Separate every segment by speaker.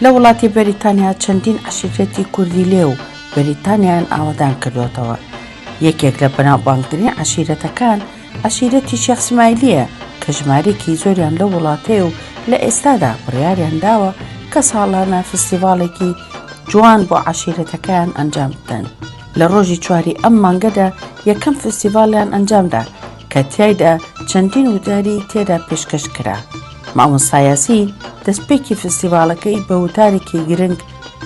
Speaker 1: لە وڵاتی بەریتانیا چەندین عەشیرەتی کوردی لێ و بەریتانیایان ئاوەدان کردوەتەوە یەکێک لە بەناوبانگترین عەشیرەتەکان عەشیرەتی شێخ سمایلیە کە ژمارێکی زۆریان لە وڵاتەیە و لە ئێستادا بڕیاریان داوە کە ساڵانە فستیڤاڵێکی جوان بۆ عەشیرەتەکەیان ئەنجام بدەن لە ڕۆژی چواری ئەم مانگەدا یەکەم فستیڤاڵیان ئەنجامدا کە تیایدا چەندین وتاری تێدا پێشکەش کرا. مامۆستا یاسین دەستپێکی فستیڤاڵەکەی بە وتارێکی گرنگ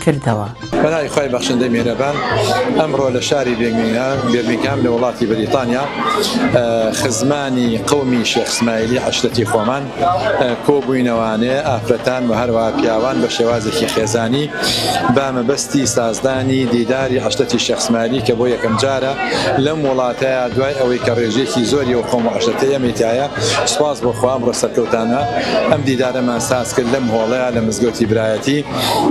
Speaker 1: کردەوە. بە ناوی خوای
Speaker 2: بەخشندەی میهرەبان ئەمڕۆ لە شاری بێرمینگهام لە وڵاتی بەریتانیا خزمانی قەومی شێخ سمایلی عەشرەتی خۆمان، کۆبوینەوانێ ئافرەتان وە هەروەها پیاوان بە شێوازێکی خێزانی بە مەبەستی سازدانی دیداری عەشرەتی شێخ سمایلی کە بۆ یەکەم جارە لەم وڵاتەیا دوای ئەوەی کە ڕێژەیەکی زۆری ئەو قەوم و عەشرەتەی ئێمەی تیایە سوپاس بۆ خوا ئەمڕۆ سەرکەوتانە ئەم دیدارەمان ساز کرد لەم هۆڵەیا لە مزگەوتی برایەتی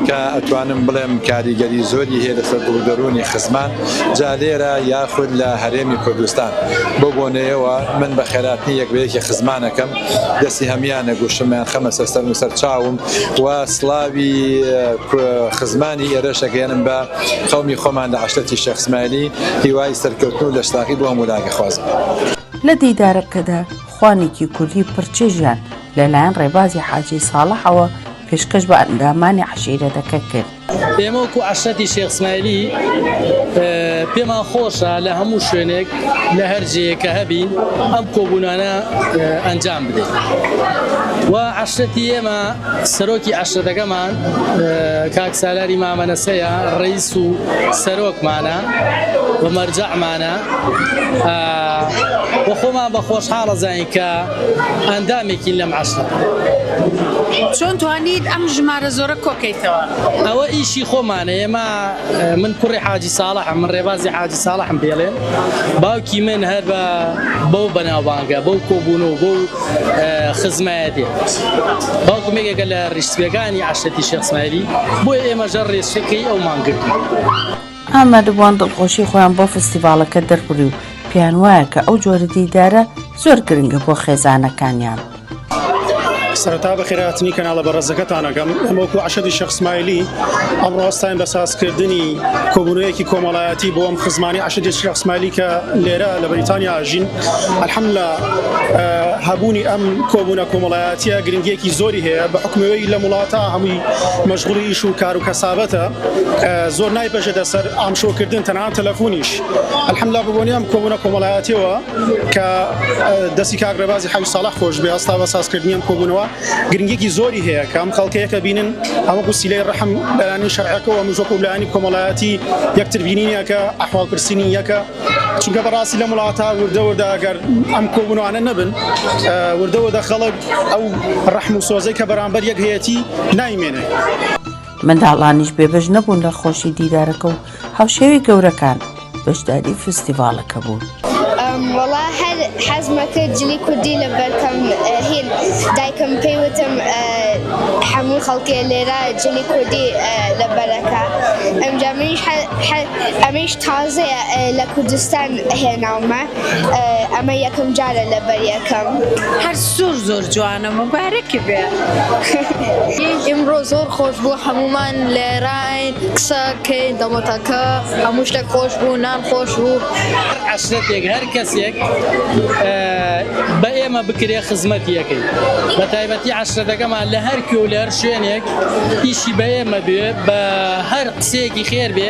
Speaker 2: کە ئەتوانم بڵێم کاریگەری زۆری هەیە لەسەر دڵ و دەرونی خزمان جا لێرە یاخود لە هەرێمی کوردستان. بەو بۆنەیەوە من بە خێراتنی یەک بە یەکی خزمانەکەم، دەستی هەموویانە گوشم، یانخەمەسەر سەرم و سەر چاوم و سڵاوی خزمانی ئێرەش ئەگەیەنم بە قەومی خۆمان لە عەشرەتی شێخ سمایلی، هیوای سەرکەوتن و لەشساغی بۆ هەموولایەک ئەخوازم. لە
Speaker 1: دیدارەکەدا خوانێکی کوردی پڕچێژیان لە لایەن ڕێبازی حاجی ساڵحەوە پێشکەش بە ئەندامانی عەشیرەتەکە کرد. ئێمە وەکو
Speaker 3: عەشرەتی شێخ ئسمایلی پێمان خۆشە لە هەموو شوێنێک لە هەر جێیەک کە هەبین ئەم کۆبوونانە ئەنجام بدەین و عەشرەتی ئێمە سەرۆکی عەشرەتەکەمان کاک سالاری مامە نەسەیە ڕیس و سەرۆکمانە و مەرجەعمانە و خۆمان بە خۆشحاڵەزانین کە ئەندامێکین لەم عەشرە. چۆن
Speaker 4: توانیت ئەم ژمارە زۆرە کۆکەیتەوە؟ ئەوە ئیشی
Speaker 3: خۆمانە ئێمە. من کوڕی حاجی ساڵحم، من ڕێبازی حاجی ساڵحم پێڵێن. باوکی من هەر بە بەو بەناوبانگە، بەو کۆبوونە و بەو خزمایە دێت. باوکم یەکێکە لە ڕیشسپییەکانی عەشرەتی شێخ سمایلی، بۆیە ئێمەش هەر ڕێچکەی ئەومان گرتووە. ئامادەبووان
Speaker 1: دڵخۆشی خۆیان بۆ فستیڤاڵەکە دەربڕی و پێیان وایە کە ئەو جۆرە دیدارە زۆر گرنگە بۆ خێزانەکانیان.
Speaker 5: سەرەتا بەخێرهاتنی کەناڵە بەڕێزەکەتان ئەکەم. ئێمە وەکو عەشەدی شێخ سمایلی ئەمڕۆ هەستاین بە سازکردنی کۆبوونەوەیەکی کۆمەڵایەتی بۆ ئەم خزمانەی عەشەدی شێخ سمایلی کە لێرە لە بەریتانیا ئەژین. الحمدللە هەبوونی ئەم کۆبوونە کۆمەڵایەتییە گرنگییەکی زۆری هەیە بە حوکمی ئەوەی لەم وڵاتە هەمووی مەشغوڵی ئیش و کار و کەسابەتە. زۆر نایبەژێتە سەر ئامشۆکردن تەنها تەلەفونیش الحمدلله بەبۆنی ئەم کۆبوونە کۆمەڵایەتیەوە کە دەستی کاک ڕێبازی حەوی ساڵح خۆش بێ هەستا بە سازکردنی ئەم کۆبوونەوە گرنگێکی زۆری هەیە کە ئەم خەڵکەیەکە بینن ئەمە گوسیلەی ڕحم لایانی شەرعەکەەوە مژۆک و لایانی کۆمەڵایەتی یەکتر بینینیەکە ئەحواڵ پرسینی یەکە چونکە بەڕاستی لەم وڵاتە وردە وردە گەر ئەم کۆبوونوانە نەبن وردە وردە خەڵک ئەو ڕحم و سۆزەی کە بەرامبەر یەک هەیەتی نایمێنێ.
Speaker 1: منداڵانیش بێبەش نەبوون لە خۆشی دیدارەکە و هاوشێوەی گەورەکان بەشداری فستیڤاڵەکە بوون. وەڵا
Speaker 6: هەر حەزمە کرد جلی کوردی لەبەرکەم هین دایکم پێی وتم هەموو خەڵکێ لێرە جلی کوردی لەبەرەکە ئەمجا منیش ئەمەیش تازەیە لە کوردستان هێناومە. ئەمە یەکەم جارە لە بەر یەکەم. هەر زۆر
Speaker 4: زۆر جوانە موبارەکی
Speaker 7: بێ. ئمڕۆ زۆر خۆش بوو هەموومان لێراین قسە کەین دەمۆتاکە هەموو شتێک خۆش بوو نان خۆش بوو. هەر عەشرەتێک
Speaker 3: هەر کەسێک بە ئێمە بکرێ خزمەتی ئەکەین بە تایبەتی عەشرەتەکەمان لە هەر کوێ و لە هەر شوێنێک ئیشی بە ئێمە بێ بە هەر قسەیەکی خێر بێ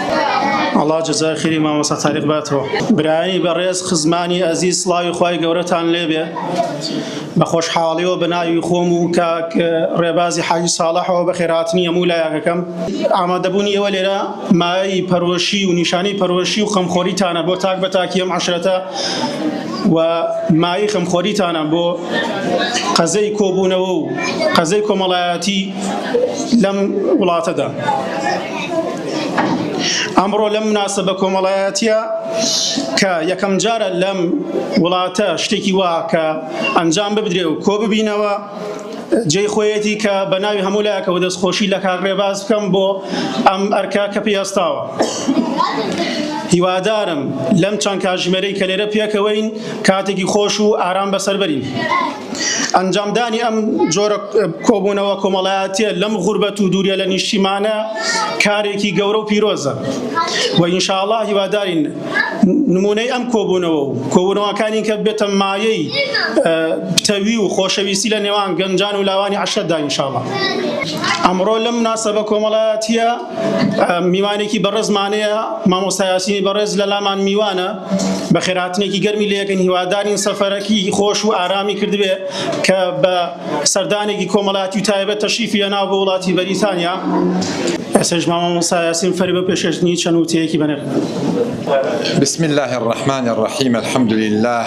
Speaker 5: ئەڵا جەزای خیری مامۆستا تاریق باتەوە برایی بەڕێز خزمانی ئەزیز سڵاوی خی گەورەتان لێبێ بە خۆشحاڵیەوە بە ناوی خۆم و کاک ڕێبازی حاجی ساڵحەوە بە خێراتنی هەموو لایەکەکەم ئامادەبوونی ئێوە لێرە مایەی پەرۆشی و نیشانەی پەرۆشی و خەمخۆریتانە بۆ تاک بە تاکیەم عشرەتە و مای خەمخۆریتانە بۆ قەزەی کۆبوونەوە و قەزەی کۆمەڵایەتی لەم وڵاتەدا. ئەمڕۆ لەم مناسبە کۆمەڵایەتە کە یەکەم جارە لەم وڵاتە شتێکی وا کە ئەنجام ببدرێ و کۆ ببینەوە جێ خۆیەتی کە بە ناوی هەموو لایەکەوە دەستخۆشی لە کاکڕێ باز بکەم بۆ ئەم ئەرکە کە پێستاوە. هیوادارم لەم چەند کاژمێرەی کە لێرە پێکەوەین کاتێکی خۆش و ئارام بەسەربەرین. ئەنجامدانی ئەم جۆرە کۆبوونەوە کۆمەڵایەتە لەم غوربەت و دوورە لە نیشتیمانە کارێکی گەورە و پیرۆزە و ئینشاءله هیوادارین نمونەی ئەم کۆبوونەوە و کۆبوونەوەکانی کە بێتە مایەی پتەوی و خۆشەویستی لە نێوان گەنجان و لاوانی عشرەتدا ئینشاءله ئەمڕۆ لەم ناسەبە کۆمەڵایەتە میوانێکی بەڕێزمانەیە مامۆستا یاسینی بەڕێز لە لامان میوانە بە خێراتنێکی گەرمی لەکەن هیوادارین سەفەرەکی خۆش و ئارامی کردبێ کە بە سەردانێکی کۆمەڵاتی و تایبەت تەشیفی لە ناو بە وڵاتی بەریتانیا ئەسش مامۆستا یاسین فەری بە پێشێشتنی چەند وتەیەکی بەنێ بسم
Speaker 2: الله الرحمن الرحیم الحمد لله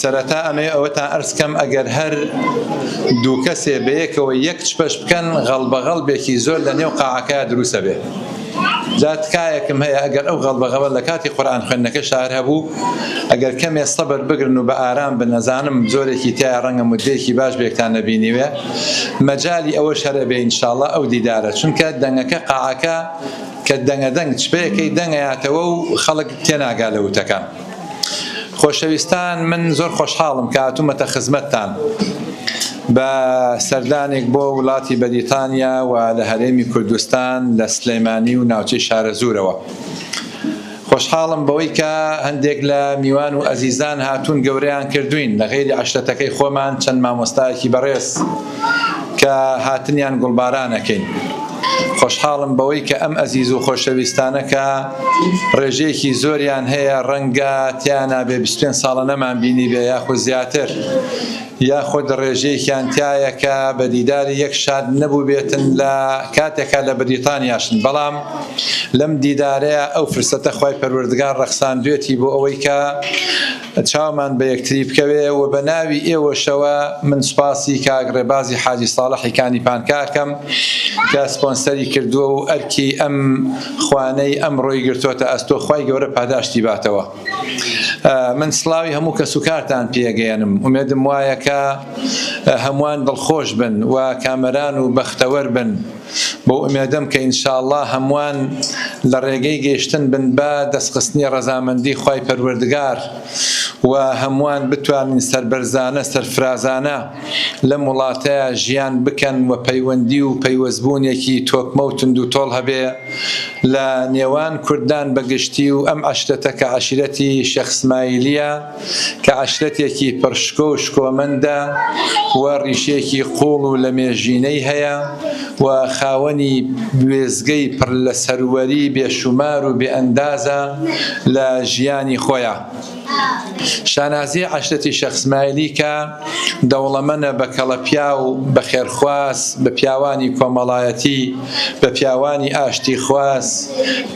Speaker 2: سەرەتا ئەمەوێ ئەوەتان ئەرز کەم ئەگەر هەر دوو کەسێ بەیەکەوە یەک چپەش بکەن غەڵبەغەڵبێکی زۆر لە نێو قاعەکە دروستە بێ جا تکایەکم هەیە ئەگەر ئەو غەڵبەغەڵە لە کاتی قورآن خوێندنەکە شار هەبوو ئەگەر کەمێ سەبر بگرن و بە ئارام بنەزانم زۆرێکی تیا ڕەنگە مدەیەکی باش بێکتان نەبینیوێ مەجای ئەوە شەرە بێ ئینشاءاللە ئەو دیدارە چونکە دەنگەکە قاعەکە کە دەنگە دەنگ چپەیەکەی دەنگەیاتەوە و خەڵک تێناگا لە وتەکان خۆشەویستان من زۆر خۆشحاڵم کە هاتوومەتە خزمەتتان بە سەردانێک بۆ وڵاتی بەریتانیا و لە هەرێمی کوردستان لە سلەیمانی و ناوچەی شارەزوورەوە خۆشحاڵم بەوەی کە هەندێک لە میوان و ئەزیزان هاتوون گەورەیان کردوین لە غێری عشرەتەکەی خۆمان چەند مامۆستایەکی بەڕێز کە هاتنیان گوڵباران ئەکەین. خۆشحاڵم بەوەی کە ئەم ئەزیز و خۆشەویستانە کە ڕێژەیەکی زۆریان هەیە ڕەنگە تیانا بێ بیست و پێنج ساڵە نەمانبینیبێ یاخود زیاتر یاخود ڕێژەیەکیان تیایە کە بە دیداری یەک شاد نەبووبێتن لە کاتێکا لە بەریتانیاشن بەڵام لەم دیدارەیا ئەو فرسەتە خوای پەروەردگار ڕەخساندوێتی بۆ ئەوەی کە چاومان بە یەکتری بکەوێ و بە ناوی ئێوەشەوە من سوپاسی کاک ڕێبازی حاجی ساڵحی کانی پانکا ئەکەم کە سپۆنسەری کردووە و ئەرکی ئەم خوانەی ئەمڕۆی گرتۆتە ئەستۆ خوای گەورە پاداشتی باتەوە من سڵاوی هەموو کەس و کارتان پێگەیەنم ئومێدم وایە کە هەمووان دڵخۆش بن و کامەران و بەختەوەر بن بەو ئومێدەم کە ان شاءاللە هەمووان لە ڕێگەی گەیشتن بن بە دەستخستنی ڕەزامەندی خوای پەروەردگار و هەمووان بتوانن سەربەرزانە سەرفرازانە لەم وڵاتە ژیان بکەن و پەیوەندی و پەیوەستبوونێکی تۆکمە و توندوتۆڵ هەبێ لە نێوان کوردان بە گشتی و ئەم عەشرەتە کە عەشیرەتی شێخ سمایلیە کە عەشرەتێکی پڕ شکۆ و شکۆمەندە و ڕیشێکی قووڵ و لەمێژینەی هەیە و خاوەنی وێستگەی پڕ لە سەروەری بێشومار و بێئەندازە لە ژیانی خۆیا. شانازیی عەشرەتی شێخ سمایلی کە. دەوڵەمەنە بە کەڵەپیاو، بە خێرخواز، بە پیاوانی کۆمەڵایەتی، بە پیاوانی ئاشتیخواز،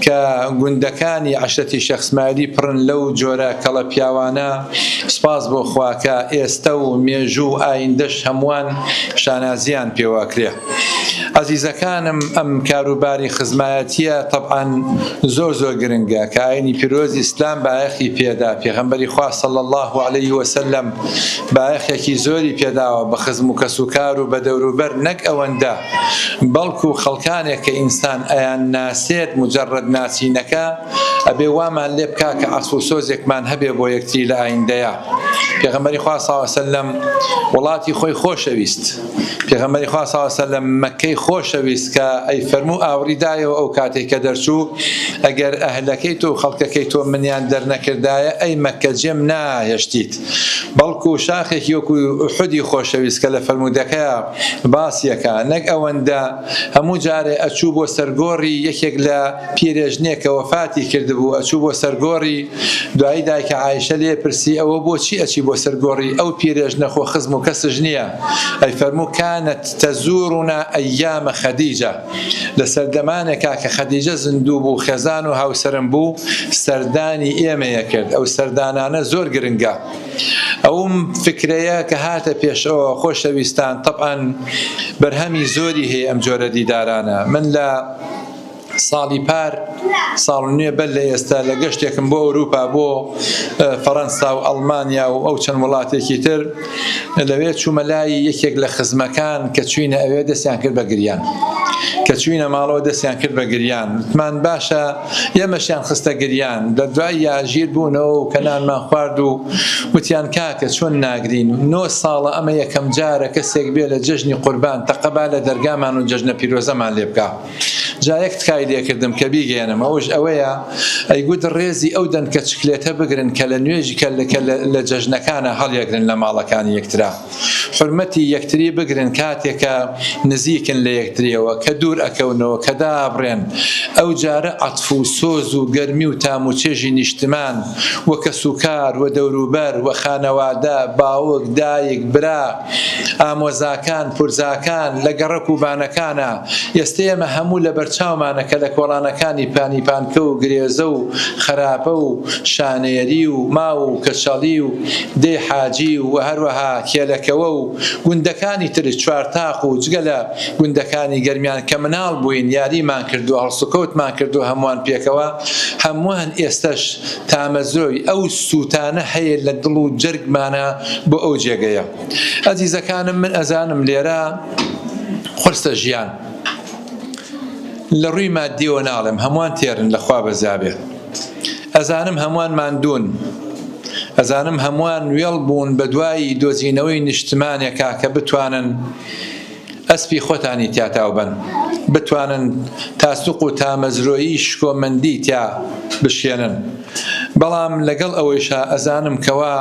Speaker 2: کە گوندەکانی عەشرەتی شێخ سمایلی پڕن لەو جۆرە کەڵەپیاوانە، سوپاس بۆ خوا کە ئێستە و مێژوو و ئایندەش هەمووان شانازییان پێوەکرێ. ئەزیزەکانم ئەم کاروباری خزمایەتیە تەبعەن زۆر زۆر گرنگە کە ئاینی پیرۆز ئیسلام بایەخی پێدا پێغەمبەری خوا صلی الله علیه وسلم بایەخێکی زۆری پێداوە بە خزم و کەس و کار و بە دەوروبەر نەک ئەوەندە بەڵکو خەڵکانێک کە ئینسان ئەیان ناسێت مجرد ناسینەکە ئەبێ وامان لێ بکا کە عەسف و سۆزێکمان هەبێ بۆ یەکتری لە ئایندەیە پێغەمبەری خوا صلی الله علیه وسلم وڵاتی خۆی خۆشەویست پێغەمبەری خوا صلی الله علیه و مەککەی خۆشەویست کە ئەی فەرموو ئاوڕی دایەوە ئەو کاتەی کە دەرچوو ئەگەر ئەهلەکەی تۆ و خەڵکەکەی تۆ منیان دەرنەکردایە ئەی مەککە جێم ناهێشتیت بەڵکو شاخێکی وەکو ئوحودی خۆشەویست کە لە فەرموودەکەیا باسیەکا نەک ئەوەندە هەموو جارێ ئەچوو بۆ سەرگۆڕی یەکێک لە پیرێژنێک کە وەفاتی کردبوو ئەچوو بۆ سەرگۆڕی دوایی دایکە عایشە لێ پرسی، ئەوە بۆ چی ئەچی بۆ سەر گۆڕی ئەو پیرێژنە خۆ خزم و کەسش نیە؟ ئەی فەرموو، کانت تەزورنا ئەیام خدیجە، لە سەردەمانێکا کە خدیجە زندوو بوو خێزان و هاوسەرم بوو سەردانی ئێمەی ئەکرد، ئەو سەردانانە زۆر گرنگە. ئەوم فکرەیە کە هاتە پێشەوە خۆشەویستان، تەبعەن بەرهەمی زۆری هەیە ئەم جۆرە دیدارانە من لە. ساڵی پار ساڵ نوێ بەر لە ئێستا لە گەشتێکم بۆ ئەوروپا بۆ فەرەنسا و ئەڵمانیا و ئەو چەند وڵاتێکی تر لەوێ چوومە لای یەکێک لە خزمەکان کە چوینە ئەوێ دەستیان کرد بە گریان کە چوینە ماڵەوە دەستیان کرد بە گریان وتمان باشە ئێمەشیان خستە گریان لە دوای یاژیر بوونەوە و کەنانمان خوارد و وتیان کاکە چۆن ناگرین نۆ ساڵە ئەمە یەکەم جارە کەسێک بێ لە جەژنی قوربان تەقەبا لە دەرگامان و جەژنە پیرۆزەمان لێ بکە جا یەک تکای لێکردم کە بیگەیەنم ئەوش ئەوەیە ئەیگوت ڕێزی ئەو دەنکە چکلێتە بگرن کە لە نوێژ کە لە جەژنەکانا هەڵیەگرن لە ماڵەکانی یەکترا حورمەتی یەکتری بگرن کاتێک کە نزیکن لە یەکتریەوە کە دوور ئەکەونەوە کە دابڕێن ئەو جارە عەتف و سۆز و گەرمی و تام و چێژی نیشتمان و کەسوکار و دەوروبەر و خانەوادە باوک دایک برا ئامۆزاکان، پورزاکان لە گەڕەک و بانەکانە. ئێستە ئێمە هەموو لە بەرچاومانە کە لە کۆڵانەکانی پانیپانکە و گرێزە و خەراپە و شانێری و ماو و کەچەڵی و دێی حاجی و هەروەها کێلەکەوە و گوندەکانی تر چوارتاق و جگە لە گوندەکانی گەرمیان کە مناڵ بووین یاریمان کردووە هەڵسوکەوتمان کردووە هەمووان پێکەوە هەمووان ئێستەش تامەزرۆی ئەو سووتانە هەیە لە دڵ و جەرگمانە بۆ ئەو جێگەیە. ئەزیزەکانم من ئەزانم لێرە قورسە ژیان. لە ڕووی ماددیەوە ناڵێم هەمووان تێرن لە خوا بەزابێ. ئەزانم هەمووان ماندوون. ئەزانم هەمووان وێڵ بوون بە دوای دۆزینەوەی نیشتمانێکا کە بتوانن ئەسپی خۆتانی تیا تاو بەن بتوانن تاسوق و تامەزرۆیی شکۆمەندی تیا بشکێنن بەڵام لەگەڵ ئەوەیشا ئەزانم کەوا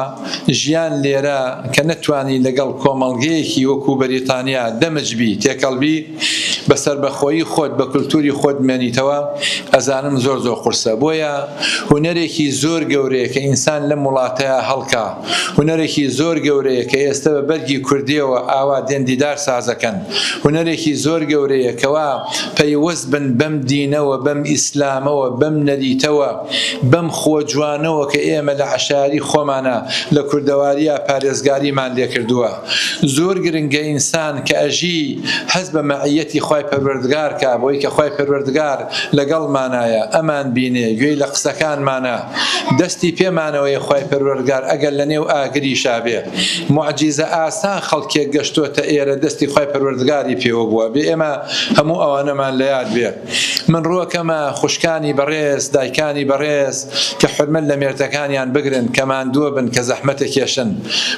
Speaker 2: ژیان لێرە کە نەتوانی لەگەڵ کۆمەڵگەیەکی وەکو بەریتانیا دەمج بی تێکەڵ بی بە سەربەخۆیی خۆت بە کولتوری خۆت بمێنیتەوە ئەزانم زۆر زۆر قورسە بۆیە هونەرێکی زۆر گەورەیە کە ئینسان لەم وڵاتەیا هەڵکا هونەرێکی زۆر گەورەیە کە ئێستە بە بەرگی کوردیەوە ئاوا دێن دیدار سازەکەن هونەرێکی زۆر گەورەیە کەوا پەیوەست بن بەم دینەوە بەم ئیسلامەوە بەم نەریتەوە بەم خووە جوانەوە کە ئێمە لە عەشایەری خۆمانا لە کوردەواریا پارێزگاریمان لێکردووە زۆر گرنگە ئینسان کە ئەژی هەست بە مەعیەتی خوای پەروەردگار کا بۆی کە خوای پەروەردگار لەگەڵمانایە ئەمان بینێ گوێی لە قسەکانمانە دەستی پێ مانەوەیە خوای پەروەردگار ئەگەر لە نێو ئاگریشا بێ موعجیزە ئاسا خەڵکێک گەشتۆتە ئێرە دەستی خوای پەروەردگاری پێوە بووە بێ ئێمە هەموو ئەوانەمان لە یاد بێ من ڕووەکەمە خوشکانی بەڕێز دایکانی بەڕێز کە حرمەت لە مێردەکانیان بگرن کە ماندووە بن کە زەحمەتە کێشن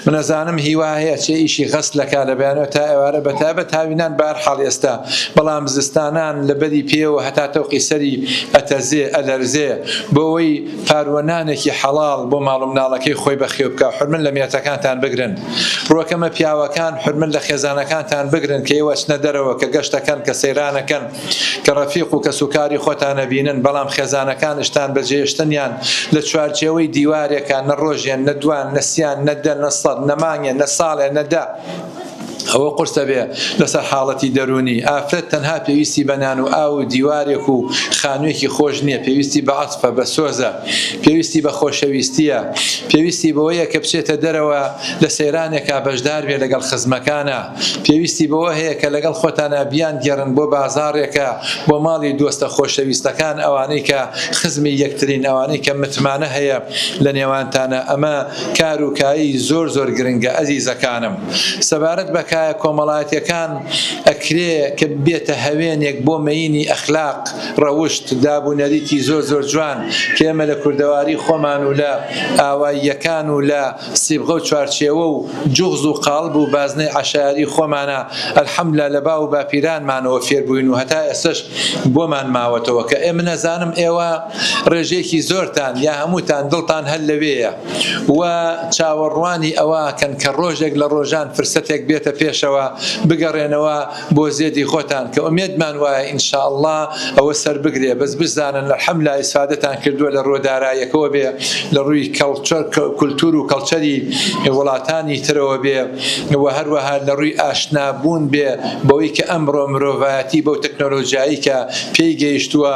Speaker 2: منەزانم هیوا هەیە چێ ئیشی غەسلەکا لە بەیانەوە تا ئێوارە بەتایبەت هاوینان بە هەر حاڵ ئێستا بەڵام زستانان لە بەری پێوە هەتا تەوقی سەری ئەتەزێ، ئەلەرزێ، بۆ ئەوەی پاروەنانێکی حەڵاڵ بۆ ماڵ و مناڵەکەی خۆی بەخێو بکا، حورمەت لە مێردەکانتان بگرن. ڕوەکەمە پیاوەکان حورمەت لە خێزانەکانتان بگرن کە ئێوە ئەچنە دەرەوە، کە گەشت ئەکەن، کە سەیران ئەکەن، کە ڕەفیق و کەس و کاری خۆتان ئەبینن، بەڵام خێزانەکانشتان بە جێێشتنیان لە چوارچێوەی دیوارێکا، نە ڕۆژێ، نە دوان، نە سیان، نە دە، نە سەد، نە مانگێ، نە ساڵێ، نە دە، ئەوە قورسە بێ لەسەر حاڵەتی دەروونی، ئافرەت تەنها پێویستی بە نان و ئاو و دیوارێک و خانوویەکی خۆش نییە، پێویستی بە عەتفە، بە سۆزە، پێویستی بە خۆشەویستییە، پێویستی بەوەیە کە بچێتە دەرەوە لە سەیرانێکا بەشدار بێ لەگەڵ خزمەکانا، پێویستی بەوە هەیە کە لەگەڵ خۆتانا بیانگێڕن بۆ بازاڕێکا، بۆ ماڵی دۆستە خۆشەویستەکان، ئەوانەی کە خزمی یەکترین، ئەوانەی کە متمانە هەیە لە نێوانتانا، ئەمە. کار و کایی زۆر زۆر گرنگە ئەزیزەکانم سەبارەت بە کایە کۆمەڵایەتیەکان ئەکرێ کە ببێتە هەوێنێک بۆ مەینی ئەخلاق ڕەوشت داب و نەریتی زۆر زۆر جوان کە ئێمە لە کوردەواری خۆمان و لە ئاواییەکان و لە سیبغە و چوارچێوە و جوغز و قاڵب و بازنەی عەشایەری خۆمانا الحمدللە لە باو و باپیرانمانەوە فێربووین و هەتا ئێستەش بۆمان ماوەتەوە کە ئێمە نەزانم ئێوە ڕێژەیەکی زۆرتان یا هەمووتان دڵتان هەر لەوێیە و چاوەڕوانی ئەوەکەن کە ڕۆژێک لە ڕۆژان فرسەتێک بێتە پێشەوە بگەڕێنەوە بۆ زێدی خۆتان کە ئومێدمان وایە ان شاء اللە ئەوە سەربگرێ بەس بشزانن الحملا ئیسفادەتان کردووە لە ڕووە دارایەکەوە بێ لە ڕووی کولتور و کەڵچەری وڵاتانی ترەوە بێ و هەروەها لە ڕووی ئاشنابوون بێ بەوەی کە ئەمڕۆ مرۆڤایەتی بەو تەکنۆلۆژیایی کە پێی گەیشتووە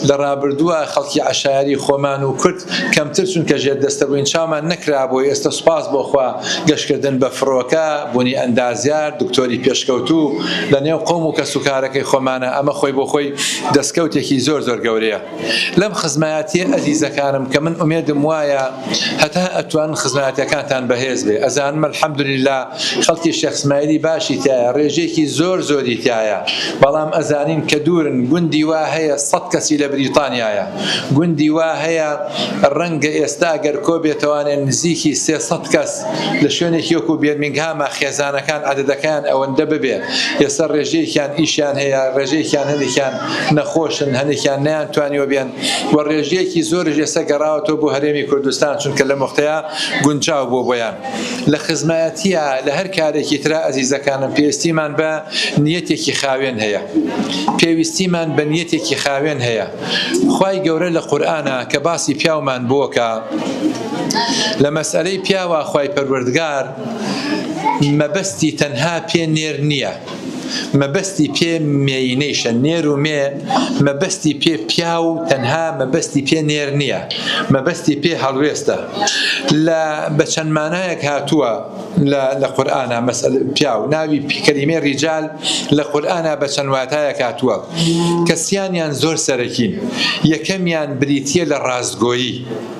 Speaker 2: لە ڕابردووە خەڵکی عەشایەری خۆمان و کورد کەمتر چونکە ژێر دەستە بووین چاومان نەکرابوو ئێستە سوپاس بۆ خوا گەشتکردن بە فرۆکە بوونی ئەندازیار دکتۆری پێشکەوتوو لە نێو قەوم و کەس و کارەکەی خۆمانە ئەمە خۆی بۆ خۆی دەستکەوتێکی زۆر زۆر گەورەیە لەم خزمایەتیە ئەزیزەکانم کە من ئومێدم وایە هەتا ئەتوان خزمایەتیەکانتان بەهێز بێ ئەزانم الحمدللە خەڵکی شێخ سمایلی باشی تایە ڕێژەیەکی زۆر زۆری تایە بەڵام ئەزانین کە دوورن گوندی وا هەیە سەد کەسی لە بریتانیایە گوندی وا هەیە ڕەنگە ئێستا گەر کۆ بێتەوانێ نزیکی سێ سەد کەس لە شوێنێکی وەکو بێرمینگهاما خێزانەکان عەدەدەکەیان ئەوەندە ببێ ئێستا ڕێژەیەکیان ئیشیان هەیە ڕێژەیەکیان هەندێکیان نەخۆشن هەندێکیان نەیان توانیوە بێن و ڕێژەیەکی زۆریش ئێستا گەڕاوەتەوە بۆ هەرێمی کوردستان چونکە لەم وەختەیا گونجاو بووە بۆیان. لە خزمایەتیە لە هەر کارێکی ترا ئەزیزەکانم پێویستیمان بە نیەتێکی خاوێن هەیە پێویستیمان بە نیەتێکی خاوێن هەیە خوای گەورە لە قورآە کە باسی پیاومان بووکە لە مەسئلەی پیاوە خوای پەروەردگار مەبەستی تەنها پێ نێر نییە مەبەستی پێ مێینەیشە، نێر و مێ، مەبەستی پێ پیاو تەنها مەبەستی پێ نێر نییە، مەبەستی پێ هەڵوێستە. لە بە چەند مانایەک هاتووە لە لە قورئانا مەسەل پیاو، ناوی کەلیمەی ڕیجال لە قورئانا بە چەند واتایەک هاتووە کە سیانیان زۆر سەرەکین، یەکەمیان بریتییە لە ڕاستگۆیی،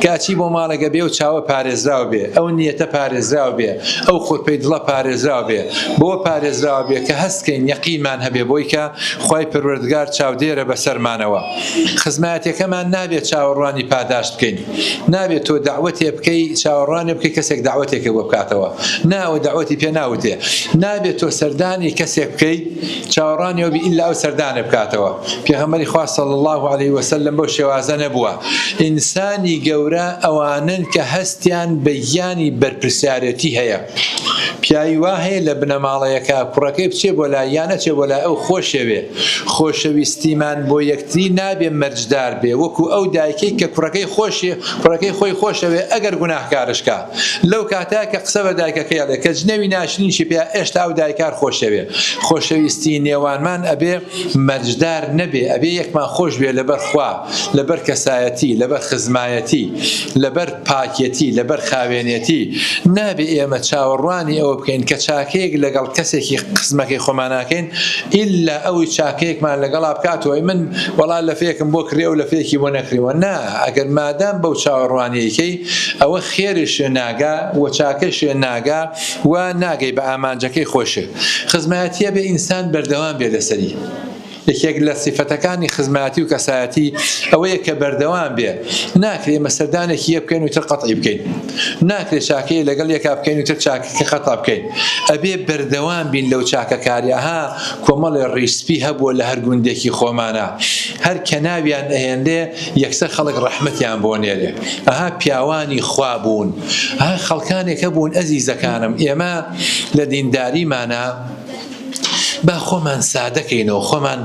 Speaker 2: کە ئەچی بۆ ماڵێک ئەبێ ئەو چاوە پارێزراو بێ، ئەو نیەتە پارێزراو بێ، ئەو خورپەی دڵە پارێزراو بێ، بەوە پارێزراو بێ کە هەست کەین یەقینمان هەبێ بۆی کە خوای پەروەردگار چاودێرە بەسەرمانەوە. خزمایەتێکەمان نابێ چاوەڕوانی پاداشت بکەین. نابێ تۆ دەعوەتێ بکەی چاوەڕوانێ بکەی کەسێک دەعوەتێکێ بۆ بکاتەوە. نا ئەوە دەعوەتی پێ ناوتێ. نابێ تۆ سەردانی کەسێک بکەی. چاوەڕوانی ئەوبی ئیللا ئەو سەردانە بکاتەوە، پێغەمبەری خوا صلی اللە علیە وسلم بەو شێوازە نەبووە، ئینسانی گەورە ئەوانەن کە هەستیان بە گیانی بەرپرسیارێتی هەیە، پیاوی وا هەیە لە بنەماڵەیەکا کوڕەکەی بچێ بۆ لای یان نەچێ بۆ لای ئەو خۆشەوێ، خۆشەویستیمان بۆ یەکتری نابێ مەرجدار بێ وەکو ئەو دایکەی کە کوڕەکەی خۆشێ کوڕەکەی خۆی خۆشەوێ ئەگەر گوناهکارشکا. لەو کاتە کە قسە بە دایکەکەی ئەڵێ کە جنێوی ناشرینیشی پێیا ئێشتا ئەو دایکار خۆشەوێ خۆشەویستی نێوانمان ئەبێ مەرجدار نەبێ ئەبێ یەکمان خۆش بێ لەبەر خوا لەبەر کەسایەتی لەبەر خزمایەتی لەبەر پاکێتی لەبەر خاوێنێتی نابێ ئێمە چاوەڕوانی ئەوە بکەین کە چاکەیەک لەگەڵ کەسێکی قسمەکەی خۆماناکەین ئللا ئەوی چاکەیەکمان لەگەڵا بکاتەوەی من وەڵا لەفێکم بۆ کڕی ئەو لەفێکی بۆ نەکریوە نا ئەگەر مادام بەو چاوەڕوانیەکەی ئەوە خێرێ شێ ناگا و چاکەی شێ ناگا و ناگەی بە ئامانجەکەی خۆی شێ. خزمایەتییە بێ ئینسان بەردەوام بێ لەسەری. یەکێک لە سیفەتەکانی خزمایەتی و کەسایەتی ئەوەیە کە بەردەوام بێ. ناکرێ ئێمە سەردانێکی یەک بکەین و تر قەتعی بکەین. ناکرێ چاکەیە لەگەڵ یەکا بکەین و تر چاکەکە قەتع بکەین. ئەبێ بەردەوام بین لەو چاکەکاریە. ها کۆمەڵێ ڕیش سپی هەبووە لە هەر گوندێکی خۆمانا. هەر کە ناویان ئەهێنرێ یەکسەر خەڵک ڕەحمەتیان بۆ نێرێ ئەها پیاوانی خوا بوون ها خەڵکانێک هەبوون ئەزیزەکانم ئێمە لە دینداریمانە با خۆمان سادەکەینەوە خۆمان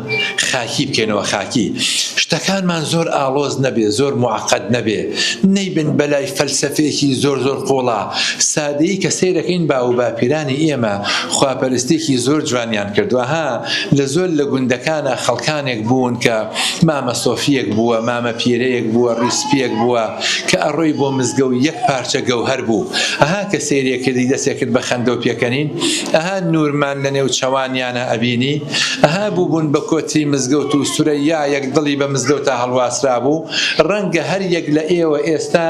Speaker 2: خاکی بکەینەوە خاکی شتەکانمان زۆر ئاڵۆز نەبێ زۆر معقد نەبێ نەیبن بەلای فەلسەفێکی زۆر زۆر قوڵا سادەیی کە سیرەکەین با و باپیرانی ئێمە خواپەرستێکی زۆر جوانیان کردوەها لە زۆر لە گوندەکانە خەڵکانێک بوون کە مامە سۆفییەک بووە، مامە پیرەیەک بووە، ڕووی سپییەک بووە، کە ئەڕۆی بۆ مزگەو یەک پارچە گەوهەر بوو، ئەها کە سەیرێ کردی دەسێ کرد بە خەندەو پێکەنین، ئەها نوورمان لە نێو چەوانیانا ئەبینی، ئەها بووبوون بە کۆتری مزگەوت و سورەیایەک دڵی بە مزگەوتا هەڵواسرابوو، ڕەنگە هەر یەک لە ئێوە ئێستا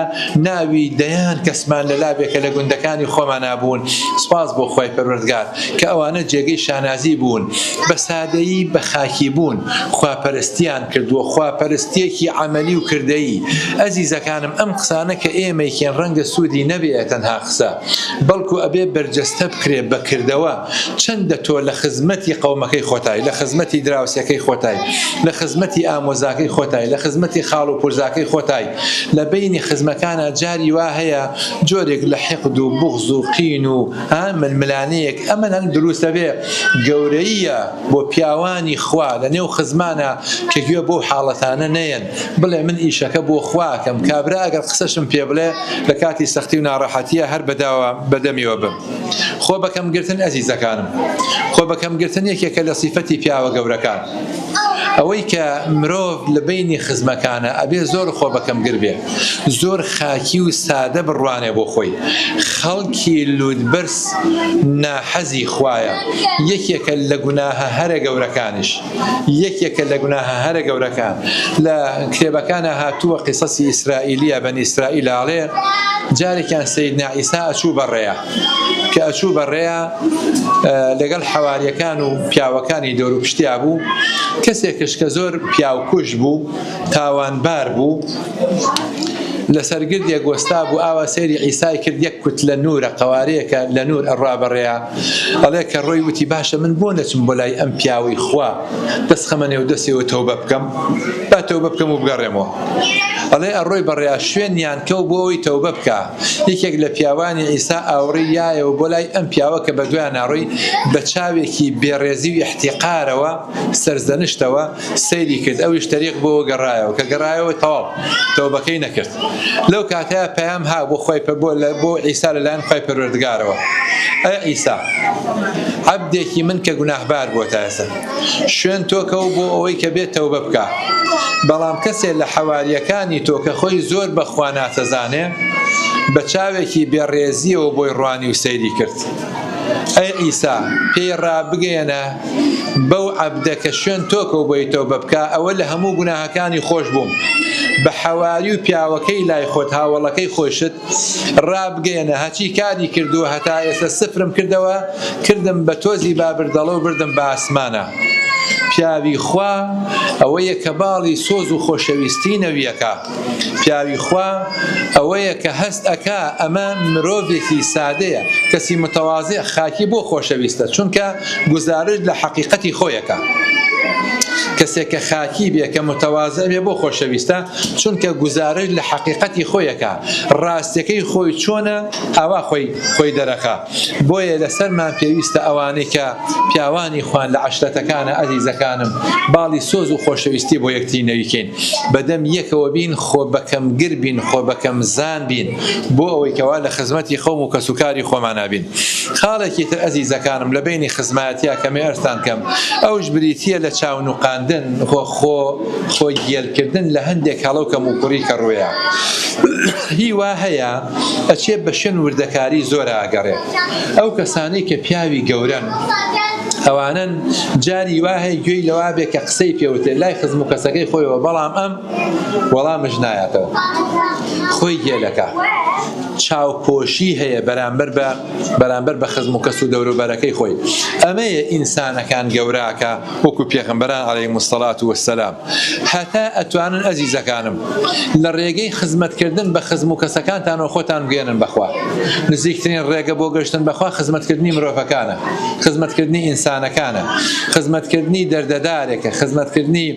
Speaker 2: ناوی دەیان کەسمان لە لاوێکە لە گوندەکانی خۆمانا بوون، سوپاس بۆ خوای پەروەردگار. کە ئەوانە جێگەی شانازی بوون بە سادەیی بە خاکی بوون خواپەرستیان کردووە خواپەرستیەکی عەمەلی و کردەیی ئەزیزەکانم ئەم قسانە کە ئێمەیکەین ڕەنگە سوودی نەبێ تەنها قسە بەڵکو ئەبێ بەرجەستە بکرێ بە کردەوە چەندە تۆ لە خزمەتی قەومەکەی خۆتای لە خزمەتی دراوسێکەی خۆتای لە خزمەتی ئامۆزاکەی خۆتای لە خزمەتی خاڵ و پورزاکەی خۆتای لە بەینی خزمەکانا جاری وا هەیە جۆرێک لە حقد و بوغز و قین و ها ململانێیەک ئەمەن هەن دروستە بێ گەورەییە بۆ پیاوانی خوا لە نێو خزمانە کە گوێ بۆ حاڵەتانە نەیەن بڵێ من ئیشەکە بۆ خواکەم کابرا ئەگەر قسەشم پێ بڵێ لە کاتی سەختی و ناڕەحەتیە هەر بەداوا بەدەمیەوە بم خۆ بەکەم گرتن ئەزیزەکانم خۆ بەکەم گرتن یەکێکە لە سیفەتی پیاوە گەورەکان ئەوەی کە مرۆڤ لە بینی خزمەکانە ئەبێ زۆر خۆ بەکەم گربێ زۆر خاکی و سادە بڕوانێ بۆ خۆی خەڵکی لوتبەرز ناحەزی خوایە یەکێکە لە گوناهە هەرە گەورەکانیش یەکێکە لە گوناهە هەرە گەورەکان لە کتێبەکانە هاتووە قیسەسی ئیسرائیلیە بەن ئیسرائیل ئاڵێ جارێکیان سیدنا ئیسا ئەچوو بەڕێە کە ئەچوو بەڕێە لەگەڵ حەواریەکان و پیاوەکانی دەور و پشتیا بوو کەسێکش کە زۆر پیاوکوش بوو تاوانبار بوو لە سەرگردێک وەستا بوو ئاوا سێری ئیسای کرد یەک کوت لە نورە قوارەیەکە لە نور ئەڕا بەڕێە ئەڵێ کە ڕۆی وتی باشە من بۆ نەچم بۆ لای ئەم پیاوەی خوا دەست خەمە نێو دەستێەوە تەوبە بکەم با تەوبە بکەم و بگەڕێمەوە ئەڵێ ئەڕۆی بەڕێ شوێنیان کەو بۆ ئەوی تەوبە بکە یەکێک لە پیاوانی ئیسا ئاوڕی یایەوە بۆ لای ئەم پیاوە کە بە دویان ناڕۆی بە چاوێکی بێڕێزی و احتیقارەوە سەرزەنشتەوە سەیری کرد ئەویش تەریق بۆوە گەڕایەوە کە گەڕایەوە تەواو تەوبەکەی نەکرد لەو کاتەیە پەیام ها بۆ خۆی پە بۆ لە بۆ عیسا لەلایەن خۆی پەروەردگارەوە ئەی عیسا عەبدێکی من کە گوناهبار بۆ تا ئێستا شوێن تۆکە و بۆ ئەوەی کە بێت تەوبە بکە بەڵام کەسێ لە حەواریەکانی تۆ کە خۆی زۆر بەخوا ناتەزانێ بە چاوێکی بێڕێزیەوە بۆی ڕوانی و سەیری کرد ئەی عیسا، پێی ڕابگەیەنە، بەو عەبدە کە شوێن تۆ کەو بۆی تەوبە بکا، ئەوە لە هەموو گوناهەکانی خۆش بوو. بە حەواری و پیاوەکەی لای خۆت، هاوەڵەکەی خۆیشت، ڕابگەیەنە، هەچی کاری کردووە هەتا ئێستا سفرم کردەوە، کردم بە تۆزی بابردەڵە و بردم بە ئاسمانا. پیاوی خوا ئەوەیە کە باڵی سۆز و خۆشەویستیی نەوییەکە. پیاوی خوا ئەوەیە کە هەست ئەکا ئەمە مرۆڤێکی سادەیە، کەسی متەوازع خاکی بۆ خۆشەویستە چونکە گوزارشت لە حەقیقەتی خۆی ئەکا. کەسێک کە خاکی بێ کە متەوازع بێ بۆ خۆشەویستە چونکە گوزارشت لە حەقیقەتی خۆی ئەکا ڕاستیەکەی خۆی چۆنە ئاوا خۆی خۆی دەرەخا بۆیە لەسەرمان پێویستە ئەوانەی کە پیاوانی خوان لە عەشرەتەکانا ئەزیزەکانم باڵی سۆز و خۆشەویستی بۆ یەکتری نەریکەین. بەدەم یەکەوە بین، خۆ بەکەم گر بین، خۆ بەکەم زان بین، بۆ ئەوەی کەوا لە خزمەتی قەوم و کەسوکاری خۆمانا بین. خاڵێکی تر ئەزیزەکانم لە بەینی خزمایەتیا کەمێ ئەرزتان کەم، ئەوش بریتیە لە چاو نوقاندن و خۆ خۆ گێل کردن لە هەندێک هەڵە و کەم و کوڕی کە ڕوێا هی وا هەیە ئەچێ بە شوێن وردەکاری زۆرا ئەگەڕێ ئەو کەسانەی کە پیاوی گەورەن ئەوانەن جاری وا هەیە گوێی لەوا بێ کە قسەی پێوتێ لای خزم و کەسەکەی خۆیەوە بەڵام ئەم وەڵامش نایاتەوە خۆی گێلەکە چاوپۆشی هەیە بەرامبەر بە بەرامبەر بە خزم و کەس و دەوروبەرەکەی خۆی ئەمەیە ئینسانەکان گەوراکە وەکو پێغمبەران عليه مستەلات وسلام هەتا ئەتوانن ئەزیزەکانم لە ڕێگەی خزمەت کردن بە خزم و کەسەکانتانەوە خۆتان بگەیەنن بە خوا نزیکترین ڕێگە بۆ گەشتن بە خوا خزمەت کردنی مرۆڤەکانە خزمەت کردنی ئینسانەکانە خزمەت کردنی دەردەدارێکە خزمەت کردنی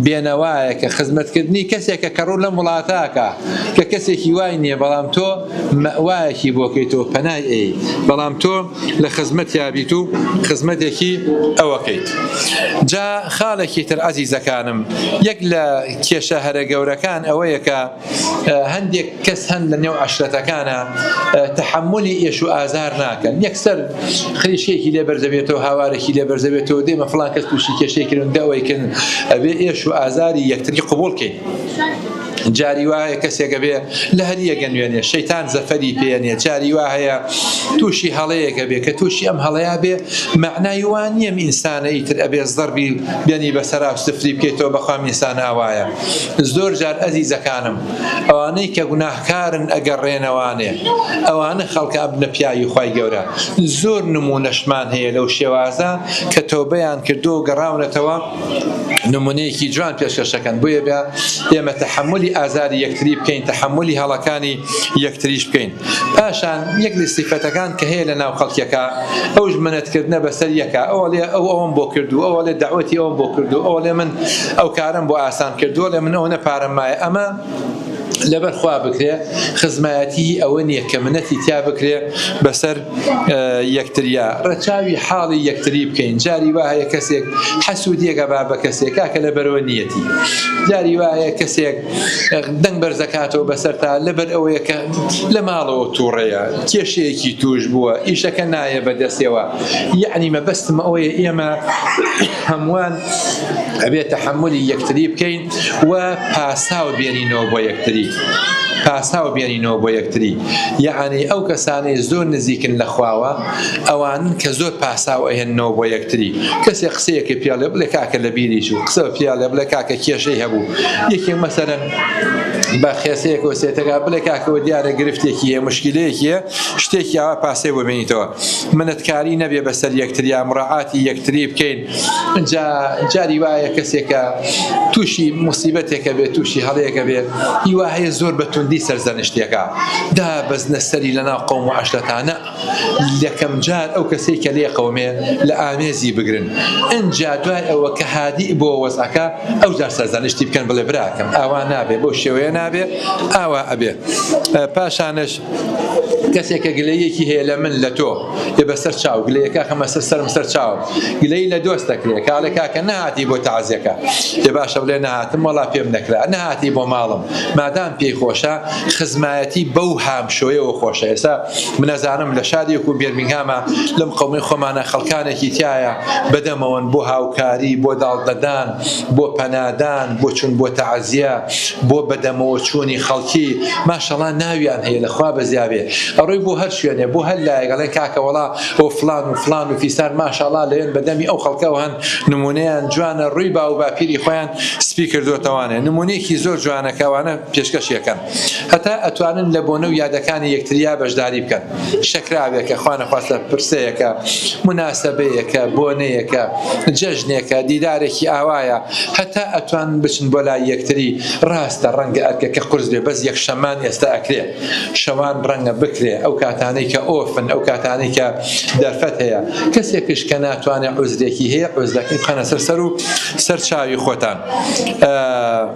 Speaker 2: بێنەوایەکە خزمەت کردنی کەسێکە کە ڕوو لەم وڵاتاکە کە کەسێکی وای نییە بەڵام تۆ مەوایەکی بۆکەیتەوە پەنای ئەیت بەڵام تۆ لە خزمەتیا بیت و خزمەتێکی ئەوەکەیت جا خاڵێکی تر عزیزەکانم یەک لە کێشە هەرە گەورەکان ئەوەیە کە هەندێک کەس هەن لە نێو عشرەتەکانە تحملی ئێش و ئازار ناکەن یەکسەر خریشێکی لێ بەرزەبێتەوە هاوارێکی لێ بەرزەبێتەوە دێمە فلان کەس تووشی کێشێکردن دەوەیکن ئەبێ ئێش و ئازاری یەکتری قوبولکەین جاری وا هەیە کەسێک ئەبێ لە هەر یەک ئەنوێنێ شەیتان زەفەری پێ نییە جاری وا هەیە تووشی هەڵەیەک ئەبێ کە تووشی ئەم هەڵەیە بێ مەعنای وا نییە ئینسانە ئیتر ئەبێ زەڕبی بێنی بەسەرا سفری بکەیتەوە بەخوام ئینسان ئاوایە زۆر جار ئەزیزەکانم ئەوانەی کە گوناهکارن ئەگەڕێنەوانێ ئەوانە خەڵکە ئەبنە پیاوی خوای گەورە زۆر نموونەشمان هەیە لەو شێوازە کە تۆبەیان کردو گەڕاونەتەوە نمونەیەکی جوان پێشکەش دەکەن بۆیە بە ئێمە تەحملی ئازاری یەکتری بکەین تەحملی هەڵەکانی یەکتریش بکەین پاشان یەک لە سیفەتەکان کە هەیە لە ناو خەڵکیەکە ئەو ژمنەتکردە بەسەر یەکە ئەو لێ ئەو ئەوم بۆ کردو ئەو لێ داوەتی ئەوم بۆ کردو ئەو لێ من ئەو کارم بۆ ئاسان کردووە لە من ئەو نەپارەمایە ئەمە لەبەر خوا بکرێ خزمایەتی ئەوە نیە کە منەتی تیا بکرێ بەسەر یەکتریا ڕەچاوی حاڵی یەکتری بکەین جاری وایە کەسێک حەسودیەکە با بە کەسێک کاکە لەبەرەوە نیەتی جاری وایە کەسێک دەنگ بەرزەکاتەوە بەسەر تا لەبەر ئەوەیە کە لە ماڵەوە تووڕەیە کێشەیەکی توش بووە ئیشەکە نایە بەدەستەوە یعنی مەبەستمە ئەوەیە ئێمە هەمووان ئەبێ تەحملی یەکتری بکەین و پاساو بێنینەوە بۆ یەکتری پاساو بێنینەوە بۆ یەکتری یەعانی ئەو کەسانەی زۆر نزیکن لە خواوە ئەوان کە زۆر پاساو ئەهێنەوە بۆ یەکتری کەسێک قسەیەکە پیاڵێ بڵێ کاکە لە بیری چوو قسە پیاڵێ بڵێ کاکە کێشەی هەبوو یەکێ مەسەرەن بە خێسەیەک و سێتەکە بڵێ کاکەوە دیارە گرفتێکی هەیە مشکلەیەکی شتێکی ئاوا پاسێ بۆ بێنیتەوە منەتکاری نەبێ بەسەر یەکتریا مڕعاتی یەکتری بکەین ئینجا جاری وایە کەسێکە تووشی موسیبەتێکە بێت تووشی هەڵەیەکە بێت هیوا هەیە زۆر بە توندی سەرزەنشتێکە دا بەزنە سەری لە ناو قەوم و عشرەتانە لەکەم جار ئەو کەسەی کە لێ قەومێ لە ئامێزی بگرن ئینجا دوای ئەوە کە هادی بۆ وەزعەکە ئەو جار سەرزەنشتی بکەن بڵێ براکەم ئاوا نابێ بەو شێوەیە نابێ ئاوا ئەبێ پاشانش کەسێک کە گلەیەکی هەیە لە من لە تۆ لێ بەسەر چاو گلەیەکە خەمە سەر سەرم سەر چاوم گلەی لە دۆست دەکرێت کاڵێ کاکە نەهاتی بۆ تازیەکە لێ باشە بڵێ نەهاتم وەڵا پێم نەکرا نەهاتی بۆ ماڵم مادام پێی خۆشە خزمایەتی بەو هامشۆیەوە خۆشە ئێستا منەزانم لە شارێک و بێرمینگهامە لەم قەومەی خۆمانە خەڵکانێکی تایە بەدەمەوەن بۆ هاوکاری بۆ داڵدەدان بۆ پەنادان، بۆ چون بۆ تەعزیە، بۆ بەدەمەوە چونی خەڵکی، ماشەڵا ناویان هەیە لە خوا بەزیابێ ئەڕۆی بۆ هەر شوێنێ بۆ هەر لایەک ئەڵێن کاکە وەڵا ئۆ فڵان و فڵان و فیسار ماشاڵا لەوێن بە دەمی ئەو خەڵکەوە هەن نمونەیان جوانە ڕوی باوو باپیری خۆیان سپی کردۆتەوانێ نمونەیەکی زۆر جوانە کە ئەوانە پێشکەشی ئەکەن. هەتا ئەتوانن لە بۆنە و یادەکانی یەکتریا بەشداری بکەن، شەکراوێکە، خوانەخواستە پرسەیەکە، موناسەبەیەکە، بۆنەیەکە، جەژنێکە، دیدارێکی ئاوایە، هەتا ئەتوانن بچن بۆ لای یەکتری، ڕاستە ڕەنگە ئەرکەکە قورس بێ بەس یەکشەممان ئێستا ئەکرێ، شەوان ڕەنگە بکرێ، ئەو کاتانەی کە ئۆفن، ئەو کاتانەی کە دەرفەت هەیە، کەسێکش کە ناتوانێ عوزرێکی هەیە، عوزرەکەی بخەنە سەر سەر و سەر چاوی خۆتان.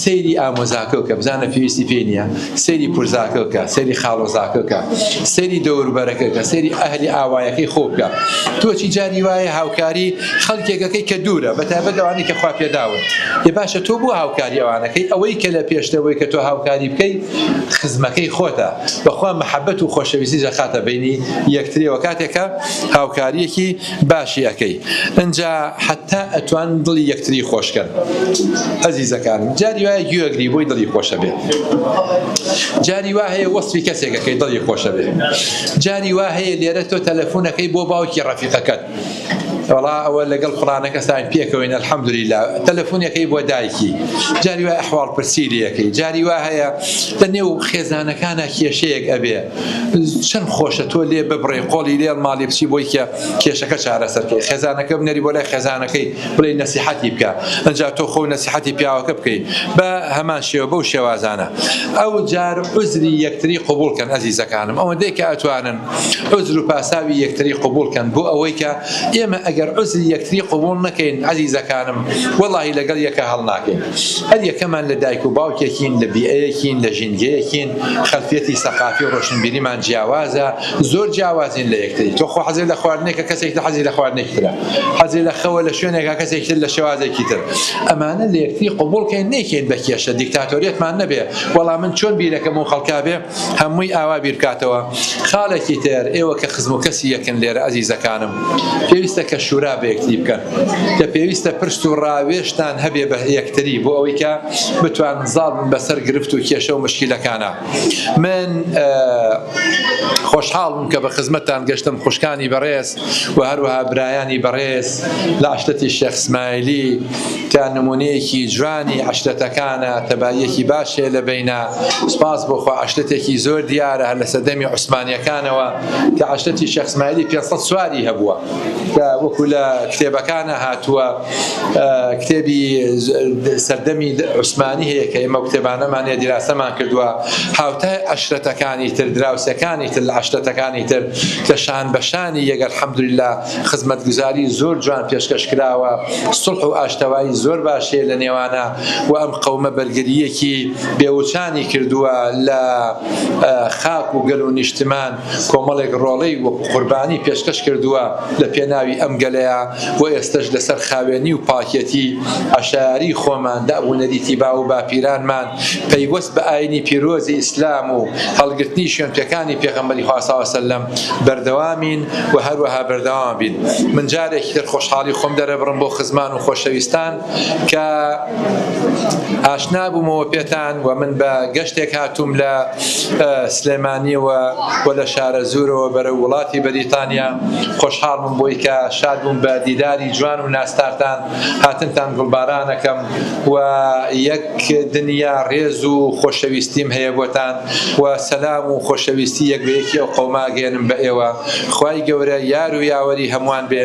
Speaker 2: سەیری ئامۆزاکە بکە بزانە پێویستی پێ نییە سەیری پرزاکە بکە سەیری خاڵۆزاکە بکە سەیری دەوربەرەکە بکە سەیری ئەهلی ئاوایەکەی خۆ بکە تۆچی جاری وایە هاوکاری خەڵکێکەکەی کە دوورە بە تایبەت ئەوانەی کە خوا پێداون ێ باشە تۆ بۆ هاوکاری ئەوانەکەی ئەوەی کە لە پێشتەوەی کە تۆ هاوکاری بکەی خزمەکەی خۆتە بەخوا محەبەت و خۆشەویستی جەخاتە بینی یەکترێەوە کاتێکە هاوکاریەکی باشی ئەکەی ئنجا حەتا ئەتوان دڵی یەکتری خۆشکەن ئەزیزەکانم جاری وایە گوێ ئەگری بۆی دڵی خۆشەبێ جاری وا هەیە وەسفی کەسێکەکەی دڵی خۆشەبێ جاری وا هەیە لێرە تۆ تەلەفونەکەی بۆ باوکی ڕەفیقەکەت وڵا ئەوە لەگەڵ کوڕانەکە ساین پێکەوەین ئەلحەمدولیلا تەلەفۆنیەکەی بۆ دایکی جاری وای حواڵ پرسی لەکەی جاری وا هەیە لە نێو خێزانەکانە کێشەیەک ئەبێ چەن خۆشە تۆ لێ ببڕێ قۆڵی لێڵ ماڵی بچی بۆی کە کێشەکە چارەسەرکەی خێزانەکە بنەری بۆ لای خێزانەکەی بڵێ نەسیحەتی بکە ئەجا تۆ خۆ نەسیحەتی پیاوەکە بکەی بە هەمان شێوە بەو شێوازانە ئەو جار عزری یەکتری قوبولکەن ئەزیزەکانم ئەوەندەی کە ئەتوانن عزر و پاساوی یەکتری قوبولکەن بۆ ئەوەی کە ئێمە ئەگەر عزری یەکتری قوبول نەکەین عزیزەکانم وەڵی لەگەڵ یەکە هەڵناکەین هەر یەکەمان لە دایک و باوکێکین لە بیئەیەکین لە ژینگەیەکین خەلفیەتی سەقافی و ڕۆشنبیریمان جیاوازە زۆر جیاوازین لە یەکتری تۆ خۆ حەزت لە خواردنێکە کەسێکی تر حەزی لە خواردنێکی ترە حەزی لە خەوە لە شوێنێکا کەسێکی تر لە شێوازێکی تر ئەمانە لە یەکتری قبوڵ کەین نەیکەین بە کێشە دیکتاتۆریەتمان نەبێ وەڵا من چۆن بیرەکەم و خەڵکا بێ هەمووی ئاوا بیر بکاتەوە خاڵێکی تر ئێوە کە خزم و کەسی یەکن لێرە ئەزیزەکانم پێویستە کە شورا بە یەکتری بکەن. کە پێویستە پرس و ڕاوێژتان هەبێ بە یەکتری بۆ ئەوەی کە بتوانن زاڵ بن بە سەر گرفت و کێشە و مشکیلەکانا من خۆشحاڵ بووم کە بە خزمەتتان گەشتم خوشکانی بەڕێز و هەروەها برایانی بەڕێز لە عشرەتی شێخ سمایلی کە نمونەیەکی جوانی عشرەتەکانە تەباییەکی باش هەیە لە بینە سپاس بۆ خوا عشرەتێکی زۆر دیارە هەر لە سەردەمی عوسمانیەکانەوە کە عشرەتی شێخ سمایلی 500 سواری هەبووە کە وەکو لە کتێبەکانە هاتووە کتێبی سەردەمی عوسمانی هەیە کە ئێمە کتێبانەمان هەیە دیراسەمان کردووە هاوتای عشرەتەکانی تر دراوسەکانی تر لە عشرەتەکانی تر کە شان بەشانی یەگەر حەمدللا خزمەتگوزاری زۆر جوان پێشکەش کراوە سڵح و ئاشتەوایی زۆر باشێ لە نێوانە و ئەم قەومە بەرگریەکی بێوچانی کردووە لە خاک و گەل و نیشتمان کۆمەڵێک ڕۆڵەی وەکو قوربانی پێشکەش کردووە لە پێناوی ئەم گەلەیا و ئێستەش لەسەر خاوێنی و پاکێتی عەشایەری خۆمان دەئ و نەریتی باو و باپیرانمان پەیوەست بە ئاینی پیرۆزی ئیسلام و هەڵگرتنی شوێنپێکانی پێغەمبەری خوا صلی وسلم بەردەوامین و هەروەها بەردەوامەبین من جارێکی تر خۆشحاڵی خۆم دەرەبڕم بۆ خزمان و خۆشەویستان کە ئاشنا بوومەوە پێتان و من بە گەشتێک هاتووم لە سلێمانیەوە و لە شارەزوورەوە بەرەو وڵاتی بەریتانیا خۆشحاڵ بووم بۆی کە شاد بووم بە دیداری جوان و ناستارتان هاتنتان گوڵبارانەکەم و یەک دنیا ڕێز و خۆشەویستیم هەیە بۆتان و سەلام و خۆشەویستی یەک بە یەکی ئەو قەومە ئەگەیەنم بە ئێوە خوای گەورە یار و یاوەری هەمووان بێ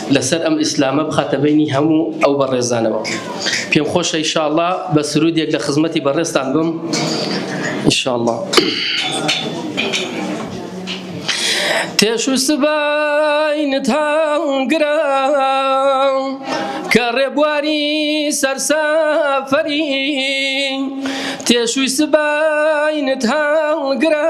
Speaker 8: لەسەر ئەم ئیسلامە بخاتە بینی هەموو ئەو بەڕێزانەوە پێم خۆشە ئیشاءاللە بە سرودێک لە خزمەتی بەڕێزتان بم ئیشاءاللە تێش و سباینت هەڵگرە کە ڕێبواری سەرسەفەری تێشوی سباینت هەڵگرە